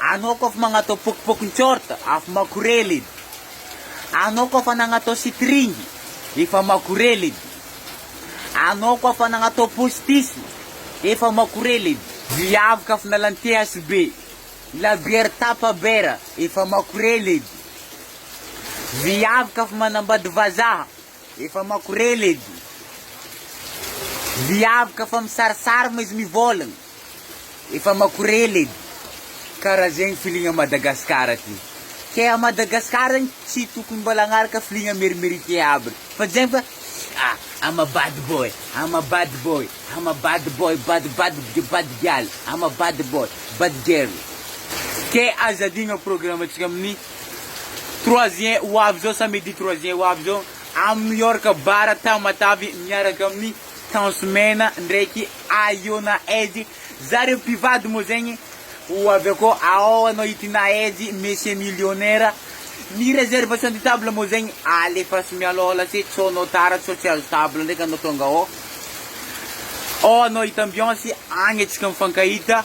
Anao koa fa magnatao pokopokony short afa makorela edy Anao koa fa nagnatao string efa makorela edy Anao koa fa nagnatao postisy efa makorela edy. Viavy ka fa miala ny THB labiera tapa bera efa makorela edy Viavy ka fa manambady vazaha Efa makorela edy viavy ka fa misarisary ma izy mivôlagna efa makorela edy kara zegny filigna Madagascar ty ke a Madagascar zegny tsy tokony mbola agnaraka filigna merimérité aby fa zegny fa a I'm a bad boy I'm a bad boy I'm a bad boy bad bad bad gal I'm a bad boy bad girl ke aza adigno programme antsika amin'ny Trois juin ho avy izao, samedi trois juin ho avy izao, amin'ny New York Bar Tamatave miaraka amin'ny Tance Mena ndraiky Ahiona Eddy. Zareo mpivady moa zegny ho avy akao, ao anao i Tina Eddy, Monsieur Millionnaire. Ny réservation de table moa zegny alefaso mialoha lasy, sao anao tara sao tsy azo table ndraiky anao tonga ao, ao anao hita ambiance, agny antsika mifankahita.